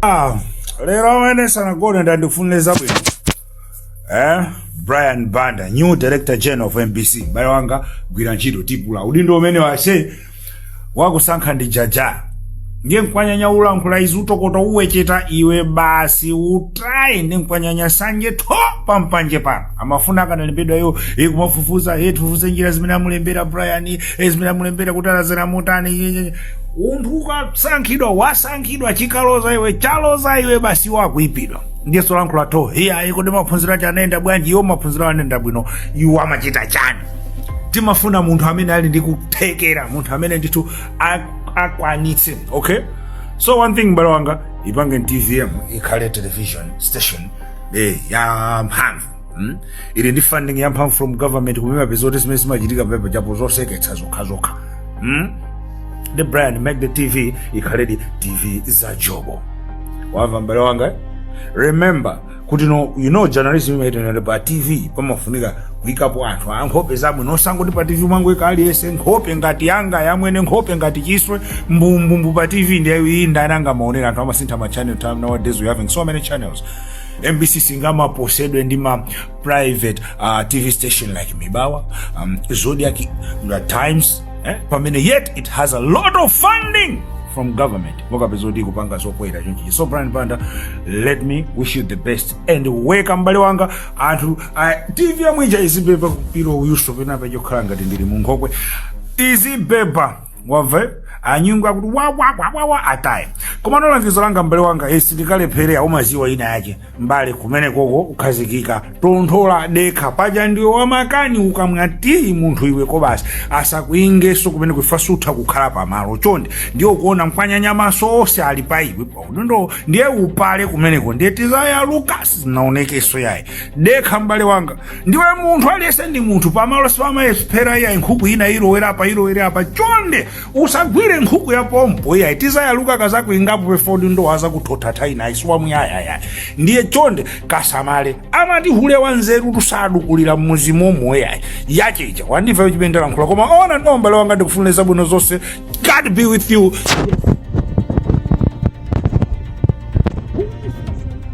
Ah, lero amwene sanagone ndandifunire zabwino eh? brian banda new director general of mbc bale wanga gwira ntchito tipula udindo umenewo ase wakusankha ndi jaja ndiye nkwanyanya ulankhula izi utokota uwecheta iwe basi utaye ndi nkwanyanya sanje tho pampanje pano amafuna akanalembedwa iwo ndikumafufuza eti tifufuze njira zimene amulembera brian eh, zimene amulembera kuti alazana motani munthu ukasankhidwa wasankhidwa chikaloza iwe chaloza iwe basi iwo akuipidwa ndiyeso lankhula tho iyayi kodi maphunziro ache anayenda bwanji iwo maphunziro awo anayenda bwino iwo amachita chani timafuna munthu amene ali ndi kuthekera munthu amene ndithu a- akwanitse okay so one thing mbale wanga ipange tvm ikhale television station eh, ya mphamvu Hmm? ili ndi funding yamphamvu from government koma umapeza kuti zimene zimachitika pepa chapo zoseketsa zokhazokha Hmm? ndiye brian make the tv ikhaledi tv za jobo wamva mbale wanga eh? remember kuti no you know journalism imeneyi pa tv pamafunika kuikapo anthu a nkhope zabwino osangoti pa tv mwangoika aliyense nkhope ngati yanga yamwene nkhope ngati chiswe mbumbumbu pa tv ndiye iyayi ndani angamaonere anthu amasintha ma channel time nowadays we having so many channels mbc singamaposedwe ndi ma private uh, tv station like mibawa um, zodiak the times eh? pamene yet it has a lot of funding from government mukapeza kuti kupanga zopoira chonchichi so brian banda let me wish you the best and weka mbale wanga anthu a tv yamwija izibeba kupiro uyuso penapa chokhala ngati ndili munkhokwe izibeba wamva anyungu akuti wawawawawa ataye komano langizo langa mbale wanga sindikalephere umaziwa ina yake mbale kumenekoko ukhazikika tonthola dekha paja ndiwe wamakani ukamwa tiyi munthu iwe koma basi asakuingeso kumeneko iwe sutha kukhala pamalo chonde ndiye ukuona mkwanyanya maso onse ali pa iwe paudindo ndiye upale kumeneko ndiye tizayaluka sizinaonekeso iyayi dekha mbale wanga ndiwe munthu aliyense ndi munthu pamalo sipamayesphera iyayi nkhuku ina ilowera apa ilowera apa chonde usagwire nkhuku ya pompo iyayi tizayaluka kazakuingapo pefodi ndo azakuthothatha ina ayisiwa muyayaya ndiye chonde kasamale amati hule wa nzerutu sadukulira mmuzi momo iyayi yache ija wandimva yochipendera nkhula koma ona ndo mbale wanga ndikufunira zabwino zonse god be with you